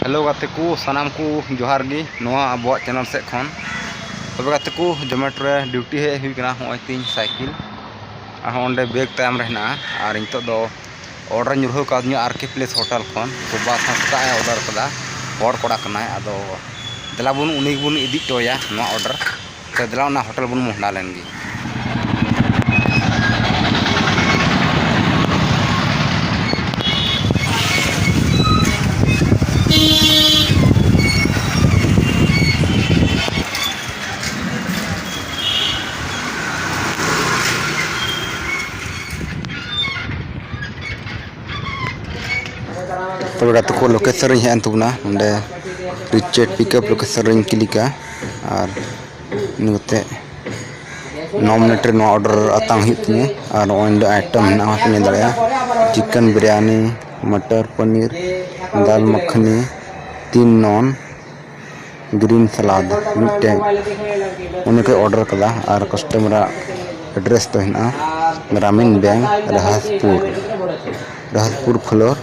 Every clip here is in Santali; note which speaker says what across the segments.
Speaker 1: ᱦᱮᱞᱳ ᱜᱟᱛᱮ ᱠᱚ ᱥᱟᱱᱟᱢ ᱠᱚ ᱡᱚᱦᱟᱨ ᱜᱮ ᱱᱚᱣᱟ ᱟᱵᱚᱣᱟᱜ ᱪᱮᱱᱮᱞ ᱥᱮᱫ ᱠᱷᱚᱱ ᱛᱚᱵᱮ ᱜᱟᱛᱮ ᱠᱚ ᱡᱚᱢᱮᱴᱳ ᱨᱮ ᱰᱤᱭᱩᱴᱤ ᱦᱮᱡ ᱦᱩᱭ ᱠᱟᱱᱟ ᱦᱚᱸᱜᱼᱚᱭ ᱛᱤᱧ ᱥᱟᱭᱠᱮᱞ ᱟᱨᱦᱚᱸ ᱚᱸᱰᱮ ᱵᱮᱜᱽ ᱛᱟᱭᱚᱢ ᱨᱮ ᱦᱮᱱᱟᱜᱼᱟ ᱟᱨ ᱱᱤᱛᱚᱜ ᱫᱚ ᱚᱰᱟᱨ ᱧᱩᱨᱦᱟᱹ ᱠᱟᱣᱫᱤᱧᱟ ᱟᱨ ᱠᱮ ᱯᱞᱮᱥ ᱦᱳᱴᱮᱞ ᱠᱷᱚᱱ ᱛᱚ ᱵᱟᱥ ᱦᱚᱸ ᱥᱮᱛᱟᱜ ᱮ ᱚᱰᱟᱨ ᱠᱟᱫᱟ ᱦᱚᱲ ᱠᱚᱲᱟ ᱠᱟᱱᱟᱭ ᱟᱫᱚ ᱫᱮᱞᱟ ᱵᱚᱱ ᱩᱱᱤ ᱜᱮᱵᱚᱱ ᱤᱫᱤ ᱦᱚᱴᱚ ᱟᱭᱟ ᱱᱚᱣᱟ ᱚᱰᱟᱨ ᱛᱚ ᱫᱮᱞᱟ ᱚᱱᱟ ᱦᱳᱴᱮᱞ ᱵᱚᱱ ᱢᱚᱦᱰᱟ ᱞᱮᱱ ᱜᱮ ᱛᱚᱵᱮ ᱜᱟᱛᱮ ᱠᱚ ᱞᱳᱠᱮᱥᱚᱱ ᱨᱤᱧ ᱦᱮᱡ ᱮᱱ ᱛᱟᱵᱚᱱᱟ ᱱᱚᱰᱮ ᱨᱤᱪᱮᱴ ᱯᱤᱠᱟᱯ ᱞᱳᱠᱮᱥᱚᱱ ᱨᱤᱧ ᱠᱞᱤᱠᱟ ᱟᱨ ᱤᱱᱟᱹ ᱠᱟᱛᱮᱫ ᱱᱚ ᱢᱤᱱᱤᱴ ᱨᱮ ᱱᱚᱣᱟ ᱚᱰᱟᱨ ᱟᱛᱟᱝ ᱦᱩᱭᱩᱜ ᱛᱤᱧᱟᱹ ᱟᱨ ᱱᱚᱜᱼᱚᱭ ᱱᱚᱰᱮ ᱟᱭᱴᱮᱢ ᱢᱮᱱᱟᱜᱼᱟ ᱚᱱᱟ ᱠᱚᱢ ᱧᱮᱞ ᱫᱟᱲᱮᱭᱟᱜᱼᱟ ᱪᱤᱠᱮᱱ ᱵᱤᱨᱭᱟᱱᱤ ᱢᱚᱴᱚᱨ ᱯᱚᱱᱤᱨ ᱫᱟᱞ ᱢᱟᱠᱷᱱᱤ ᱛᱤᱱ ᱱᱚᱱ ᱜᱨᱤᱱ ᱥᱟᱞᱟᱰ ᱢᱤᱫᱴᱮᱱ ᱚᱱᱟ ᱠᱚ ᱚᱰᱟᱨ ᱠᱟᱫᱟ ᱟᱨ ᱠᱟᱥᱴᱚᱢᱟᱨ ᱟᱜ ᱮᱰᱨᱮᱥ ᱫᱚ ᱦᱮᱱᱟᱜᱼᱟ Grameen bank Rahaspur Rahaspur floor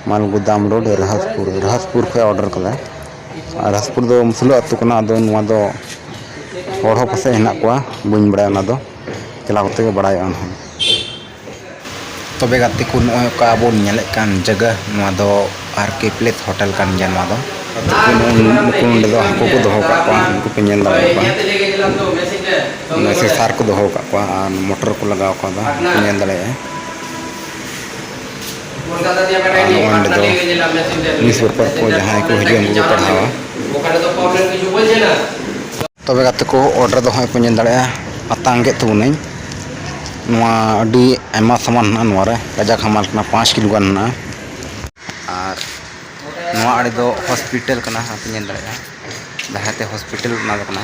Speaker 1: Malgodam road Rahaspur Rahaspur ᱠᱷᱚᱱ ᱚᱰᱟᱨ ᱠᱟᱫᱟ ᱨᱟᱡᱽᱯᱩᱨ ᱫᱚ ᱢᱩᱥᱞᱟᱹ ᱟᱹᱛᱩ ᱠᱟᱱᱟ ᱟᱫᱚ ᱱᱚᱣᱟ ᱫᱚ ᱦᱚᱲ ᱦᱚᱸ ᱯᱟᱥᱮᱡ ᱦᱮᱱᱟᱜ ᱠᱚᱣᱟ ᱵᱟᱹᱧ ᱵᱟᱲᱟᱭᱟ ᱚᱱᱟ ᱫᱚ ᱪᱟᱞᱟᱣ ᱠᱟᱛᱮᱫ ᱜᱮ ᱵᱟᱲᱟᱭᱚᱜᱼᱟ ᱱᱟᱦᱟᱜ ᱛᱚᱵᱮ ᱜᱟᱛᱮ ᱠᱚ ᱱᱚᱜᱼᱚᱸᱭ ᱚᱠᱟ ᱵᱚᱱ ᱧᱮᱞᱮᱫ ᱠᱟᱱ ᱡᱟᱭᱜᱟ ᱱᱚᱣᱟ ᱫᱚ ᱟᱨ ᱠᱮ ᱯᱞᱮᱥ ᱦᱳᱴᱮᱞ ᱠᱟᱱ ᱜᱮᱭᱟ ᱱᱚᱣᱟ ᱫᱚ ᱱᱩᱠᱩ ᱱᱚᱰᱮ ᱫᱚ ᱦᱟᱹᱠᱩ ᱠᱚ ᱫᱚᱦᱚ ᱠᱟᱜ ᱠᱚᱣᱟ ᱩᱱᱠᱩ ᱯᱮ ᱧᱮᱞ ᱫᱟᱲᱮ ᱠᱚᱣᱟ ᱚᱱᱟ ᱥᱮᱥᱟᱨ ᱠᱚ ᱫᱚᱦᱚ ᱠᱟᱜ ᱠᱚᱣᱟ ᱟᱨ ᱢᱚᱴᱚᱨ ᱠᱚ ᱞᱟᱜᱟᱣ ᱠᱟᱫᱟ ᱧᱮᱞ ᱫᱟᱲᱮᱭᱟᱜᱼᱟ ᱱᱚᱣᱟ ᱫᱚ ᱱᱤᱭᱩᱥ ᱯᱮᱯᱟᱨ ᱠᱚ ᱡᱟᱦᱟᱸᱭ ᱠᱚ ᱦᱤᱡᱩᱜᱼᱟ ᱩᱱᱠᱩ ᱠᱚ ᱯᱟᱲᱦᱟᱣᱟ ᱛᱚᱵᱮ ᱜᱟᱛᱮ ᱠᱚ ᱚᱰᱟᱨ ᱫᱚ ᱦᱟᱸᱜ ᱯᱮ ᱧᱮᱞ ᱫᱟᱲᱮᱭᱟᱜᱼᱟ ᱟᱛᱟᱝ ᱠᱮᱫ ᱛᱟᱵᱚᱱᱟᱹᱧ ᱱᱚᱣᱟ ᱟᱹᱰᱤ ᱟᱭᱢᱟ ᱥᱟᱢᱟᱱ ᱢᱮᱱᱟᱜᱼᱟ ᱱᱚᱣᱟ ᱨᱮ ᱠᱟᱡᱟᱠ ᱦᱟᱢᱟᱞ ᱠᱟᱱᱟ ᱯᱟᱸᱪ ᱠᱤᱞᱳ ᱜᱟᱱ ᱢᱮᱱᱟᱜᱼᱟ ᱟᱨ ᱱᱚᱣᱟ ᱟᱲᱮ ᱫᱚ ᱦᱚᱥᱯᱤᱴᱟᱞ ᱠᱟᱱᱟ ᱦᱟᱸᱜ ᱯᱮ ᱧᱮᱞ ᱫᱟᱲᱮᱭᱟᱜᱼᱟ ᱡᱟᱦᱟᱸ ᱛᱮ ᱦᱚᱥᱯᱤᱴᱟᱞ ᱵᱮᱱᱟᱣ ᱠᱟᱱᱟ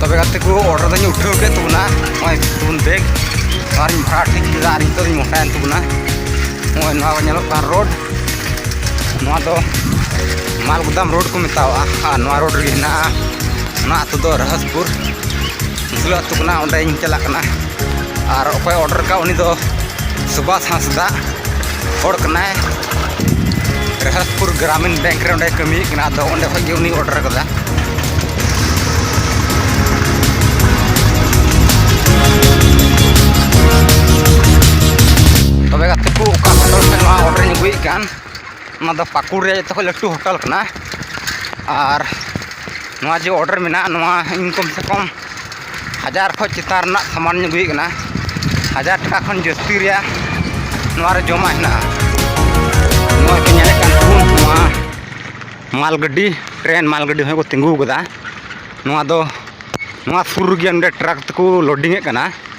Speaker 1: ᱛᱚᱵᱮ ᱜᱟᱛᱮ ᱠᱚ ᱚᱰᱟᱨ ᱫᱚᱧ ᱩᱴᱷᱟᱹᱣ ᱠᱮᱫ ᱛᱟᱵᱚᱱᱟ ᱱᱚᱜᱼᱚᱭ ᱛᱟᱵᱚᱱ ᱵᱮᱜᱽ ᱟᱨᱤᱧ ᱵᱷᱟᱲᱟ ᱴᱷᱤᱠ ᱠᱮᱫᱟ ᱟᱨ ᱱᱤᱛᱚᱜ ᱤᱧ ᱢᱚᱴᱟᱭᱮᱱ ᱛᱟᱵᱚᱱᱟ ᱱᱚᱜᱼᱚᱭ ᱱᱚᱣᱟ ᱧᱮᱞᱚᱜ ᱠᱟᱱ ᱨᱳᱰ ᱱᱚᱣᱟ ᱫᱚ ᱢᱟᱞᱜᱩᱫᱟᱢ ᱨᱳᱰ ᱠᱚ ᱢᱮᱛᱟᱣᱟᱜᱼᱟ ᱟᱨ ᱱᱚᱣᱟ ᱨᱳᱰ ᱨᱮᱜᱮ ᱦᱮᱱᱟᱜᱼᱟ ᱚᱱᱟ ᱟᱛᱳ ᱫᱚ ᱨᱚᱦᱚᱥᱯᱩᱨ ᱥᱩᱥᱞᱟᱹ ᱟᱹᱛᱩ ᱠᱟᱱᱟ ᱚᱸᱰᱮᱧ ᱪᱟᱞᱟᱜ ᱠᱟᱱᱟ ᱟᱨ ᱚᱠᱚᱭ ᱚᱰᱟᱨ ᱠᱟᱜ ᱩᱱᱤ ᱫᱚ ᱥᱩᱵᱷᱟᱥ ᱦᱟᱸᱥᱫᱟ ᱦᱚᱲ ᱠᱟᱱᱟᱭ ᱨᱮᱦᱟᱥᱯᱩᱨ ᱜᱨᱟᱢᱤᱱ ᱵᱮᱝᱠ ᱨᱮ ᱚᱸᱰᱮ ᱠᱟᱹᱢᱤᱭᱮᱫ ᱠᱟᱱᱟ ᱟᱫᱚ ᱚᱸᱰᱮ ᱠᱷᱚᱱ ᱜᱮ ᱩᱱᱤ ᱚᱰᱟᱨ ᱠᱟᱫᱟ ᱛᱚᱵᱮ ᱜᱟᱛᱮ ᱠᱚ ᱚᱠᱟ ᱦᱳᱴᱮᱞ ᱛᱮ ᱱᱚᱣᱟ ᱚᱰᱟᱨᱤᱧ ᱟᱹᱜᱩᱭᱮᱫ ᱠᱟᱱ ᱚᱱᱟ ᱫᱚ ᱯᱟᱹᱠᱩᱲ ᱨᱮᱭᱟᱜ ᱡᱚᱛᱚ ᱠᱷᱚᱡ ᱞᱟᱹᱴᱩ ᱦᱳᱴᱮᱞ ᱠᱟᱱᱟ ᱟᱨ ᱱᱚᱣᱟ ᱡᱮ ᱚᱰᱟᱨ ᱢᱮᱱᱟᱜᱼᱟ ᱱᱚᱣᱟ ᱤᱧ ᱠᱚᱢ ᱥᱮ ᱠᱚᱢ ᱦᱟᱡᱟᱨ ᱠᱷᱚᱡ ᱪᱮᱛᱟᱱ ᱨᱮᱱᱟᱜ ᱥᱟᱢᱟᱱᱤᱧ ᱟᱹᱜᱩᱭᱮᱫ ᱠᱟᱱᱟ ᱦᱟᱡᱟᱨ ᱴᱟᱠᱟ ᱠᱷᱚᱱ ᱡᱟᱹᱥᱛᱤ ᱨᱮᱭᱟᱜ ᱱᱚᱣᱟ ᱨᱮ ᱡᱚᱢᱟᱜ ᱦᱮᱱᱟᱜᱼᱟ ᱱᱚᱜᱼᱚᱭ ᱯᱮ ᱧᱮᱞᱮᱫ ᱠᱟᱱ ᱛᱟᱵᱚᱱ ᱱᱚᱣᱟ ᱢᱟᱞ ᱜᱟᱹᱰᱤ ᱴᱨᱮᱱ ᱢᱟᱞ ᱜᱟᱹᱰᱤ ᱦᱚᱸ ᱠᱚ ᱛᱤᱸᱜᱩ ᱠᱟᱫᱟ ᱱᱚᱣᱟ ᱫᱚ ᱱᱚᱣᱟ ᱥᱩᱨ ᱨᱮᱜᱮ ᱱᱚᱰᱮ ᱴᱨᱟᱠ ᱛᱮᱠᱚ ᱞᱳᱰᱤᱝ ᱮᱫ ᱠᱟᱱᱟ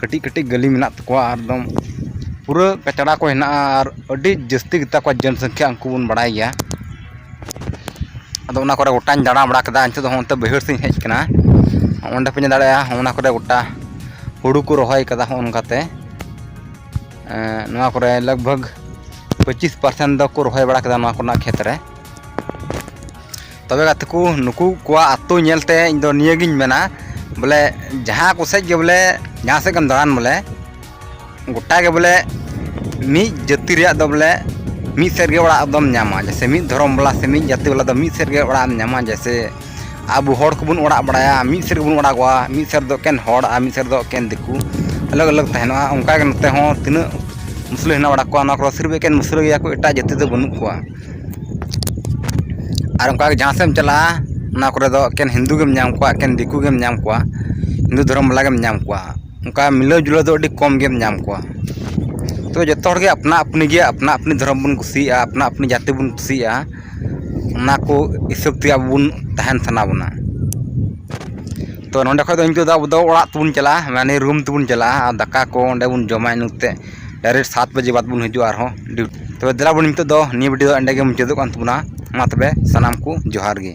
Speaker 1: ᱠᱟᱹᱴᱤᱡ ᱠᱟᱹᱴᱤᱡ ᱜᱟᱹᱞᱤᱢ ᱢᱮᱱᱟᱜ ᱛᱟᱠᱚᱣᱟ ᱟᱨ ᱮᱠᱫᱚᱢ ᱯᱩᱨᱟᱹ ᱠᱟᱪᱲᱟ ᱠᱚ ᱦᱮᱱᱟᱜᱼᱟ ᱟᱨ ᱟᱹᱰᱤ ᱡᱟᱹᱥᱛᱤ ᱜᱮᱛᱟ ᱠᱚᱣᱟ ᱡᱚᱱ ᱥᱚᱝᱠᱷᱟ ᱩᱱᱠᱩ ᱵᱚᱱ ᱵᱟᱲᱟᱭ ᱜᱮᱭᱟ ᱟᱫᱚ ᱚᱱᱟ ᱠᱚᱨᱮ ᱜᱚᱴᱟᱧ ᱫᱟᱬᱟ ᱵᱟᱲᱟ ᱠᱮᱫᱟ ᱱᱤᱛᱚᱜ ᱫᱚ ᱱᱚᱛᱮ ᱵᱟᱹᱭᱦᱟᱹᱲ ᱥᱮᱫ ᱤᱧ ᱦᱮᱡ ᱠᱟᱱᱟ ᱚᱸᱰᱮ ᱯᱮ ᱧᱮᱞ ᱫᱟᱲᱮᱭᱟᱜᱼᱟ ᱚᱱᱟ ᱠᱚᱨᱮ ᱜᱚᱴᱟ ᱦᱩᱲᱩ ᱠᱚ ᱨᱚᱦᱚᱭ ᱠᱟᱫᱟ ᱦᱚᱸᱜᱼᱚ ᱱᱚᱝᱠᱟᱛᱮ ᱱᱚᱣᱟ ᱠᱚᱨᱮ ᱞᱟᱜᱽ ᱵᱷᱟᱜᱽ ᱯᱚᱸᱪᱤᱥ ᱯᱟᱨᱥᱮᱱᱴ ᱫᱚᱠᱚ ᱨᱚᱦᱚᱭ ᱵᱟᱲᱟ ᱠᱮᱫᱟ ᱱᱚᱣᱟ ᱠᱚᱨᱮᱱᱟᱜ ᱠᱷᱮᱛ ᱨᱮ ᱛᱚᱵᱮ ᱜᱟᱛᱮ ᱠᱚ ᱱᱩᱠᱩ ᱠᱚᱣᱟᱜ ᱟᱛᱳ ᱧᱮᱞᱛᱮ ᱤᱧ ᱫᱚ ᱱᱤᱭᱟᱹᱜᱤᱧ ᱢᱮᱱᱟ ᱵᱚᱞᱮ ᱡᱟᱦᱟᱸ ᱠᱚᱥᱮᱡ ᱜᱮ ᱵᱚᱞᱮ ᱡᱟᱦᱟᱸ ᱥᱮᱫ ᱜᱮᱢ ᱫᱟᱬᱟᱱ ᱵᱚᱞᱮ ᱜᱚᱴᱟ ᱜᱮ ᱵᱚᱞᱮ ᱢᱤᱫ ᱡᱟᱹᱛᱤ ᱨᱮᱭᱟᱜ ᱫᱚ ᱵᱚᱞᱮ ᱢᱤᱫ ᱥᱮᱫ ᱨᱮᱜᱮ ᱚᱲᱟᱜ ᱫᱚᱢ ᱧᱟᱢᱟ ᱡᱮᱭᱥᱮ ᱢᱤᱫ ᱫᱷᱚᱨᱚᱢ ᱵᱟᱞᱟ ᱥᱮ ᱢᱤᱫ ᱡᱟᱹᱛᱤ ᱵᱟᱞᱟ ᱫᱚ ᱢᱤᱫ ᱥᱮᱫ ᱨᱮᱜᱮ ᱚᱲᱟᱜ ᱮᱢ ᱧᱟᱢᱟ ᱡᱮᱭᱥᱮ ᱟᱵᱚ ᱦᱚᱲ ᱠᱚᱵᱚᱱ ᱚᱲᱟᱜ ᱵᱟᱲᱟᱭᱟ ᱢᱤᱫ ᱥᱮᱫ ᱨᱮᱜᱮ ᱵᱚᱱ ᱚᱲᱟᱜᱚᱜᱼᱟ ᱢᱤᱫ ᱥᱮᱫ ᱨᱮᱫᱚ ᱮᱠᱮᱱ ᱦᱚᱲ ᱟᱨ ᱢᱤᱫ ᱥᱮᱫ ᱨᱮᱫᱚ ᱮᱠᱮᱱ ᱫᱤᱠᱩ ᱟᱞᱟᱜᱽ ᱟᱞᱟᱜᱽ ᱛᱟᱦᱮᱱᱚᱜᱼᱟ ᱚᱱᱠᱟᱜᱮ ᱱᱚᱛᱮ ᱦᱚᱸ ᱛᱤᱱᱟᱹᱜ ᱢᱩᱥᱞᱟᱹ ᱦᱮᱱᱟᱜ ᱵᱟᱲᱟ ᱠᱚᱣᱟ ᱚᱱᱟ ᱠᱚᱨᱮᱜ ᱥᱤᱨᱤᱯ ᱮᱠᱮᱱ ᱢᱩᱥᱞᱟᱹ ᱜᱮᱭᱟ ᱠᱚ ᱮᱴᱟᱜ ᱡᱟᱹᱛᱤ ᱫᱚ ᱵᱟᱹᱱᱩᱜ ᱠᱚᱣᱟ ᱟᱨ ᱚᱱᱠᱟ ᱜᱮ ᱡᱟᱦᱟᱸ ᱥᱮᱫ ᱮᱢ ᱪᱟᱞᱟᱜᱼᱟ ᱚᱱᱟ ᱠᱚᱨᱮ ᱫᱚ ᱮᱠᱮᱱ ᱦᱤᱱᱫᱩ ᱜᱮᱢ ᱧᱟᱢ ᱠᱚᱣᱟ ᱮᱠᱮᱱ ᱫᱤᱠᱩ ᱜᱮᱢ ᱧᱟᱢ ᱠᱚᱣᱟ ᱦᱤᱱᱫᱩ ᱫᱷᱚᱨᱚᱢ ᱵᱟᱞᱟ ᱜᱮᱢ ᱧᱟᱢ ᱠᱚᱣᱟ ᱚᱱᱠᱟ ᱢᱤᱞᱟᱹᱣ ᱡᱩᱞᱟᱹᱣ ᱫᱚ ᱟᱹᱰᱤ ᱠᱚᱢ ᱜᱮᱢ ᱧᱟᱢ ᱠᱚᱣᱟ ᱛᱳ ᱡᱚᱛᱚ ᱦᱚᱲᱜᱮ ᱟᱯᱱᱟ ᱟᱹᱯᱱᱤ ᱜᱮ ᱟᱯᱱᱟ ᱟᱹᱯᱱᱤ ᱫᱷᱚᱨᱚᱢ ᱵᱚᱱ ᱠᱩᱥᱤᱭᱟᱜᱼᱟ ᱟᱯᱱᱟ ᱟᱹᱯᱱᱤ ᱡᱟᱹᱛᱤ ᱵᱚᱱ ᱠᱩᱥᱤᱭᱟᱜᱼᱟ ᱚᱱᱟ ᱠᱚ ᱦᱤᱥᱟᱹᱵ ᱛᱮ ᱟᱵᱚ ᱵᱚᱱ ᱛᱟᱦᱮᱱ ᱥᱟᱱᱟ ᱵᱚᱱᱟ ᱛᱳ ᱱᱚᱰᱮ ᱠᱷᱚᱱ ᱫᱚ ᱤᱱᱠᱟᱹ ᱫᱚ ᱟᱵᱚ ᱫᱚ ᱚᱲᱟᱜ ᱛᱮᱵᱚᱱ ᱪᱟᱞᱟᱜᱼᱟ ᱢᱟᱱᱮ ᱨᱩᱢ ᱛᱮᱵᱚᱱ ᱪᱟᱞᱟᱜᱼᱟ ᱟᱨ ᱫᱟᱠᱟ ᱠᱚ ᱚᱸᱰᱮ ᱵᱚᱱ ᱡᱚᱢᱟ ᱤᱱᱟᱹᱛᱮ ᱰᱟᱭᱨᱮᱠᱴ ᱥᱟᱛ ᱵᱟᱡᱮ ᱵᱟᱫᱽ ᱵᱚᱱ ᱦᱤᱡᱩᱜᱼᱟ ᱟᱨᱦᱚᱸ ᱰᱤᱭᱩᱴᱤ ᱛᱚᱵᱮ ᱫᱮᱞᱟ ᱵᱚᱱ ᱱᱤᱛᱚᱜ ᱫᱚ ᱱᱤᱭᱟᱹ ᱵᱷᱤᱰᱭᱳ ᱫᱚ ᱮᱸᱰᱮ ᱜᱮ ᱢᱩᱪᱟᱹᱫᱚᱜ ᱠᱟᱱ ᱛᱟᱵᱚᱱᱟ ᱢᱟ ᱛᱚᱵᱮ ᱥᱟᱱᱟᱢ ᱠᱚ ᱡᱚᱦᱟᱨ ᱜᱮ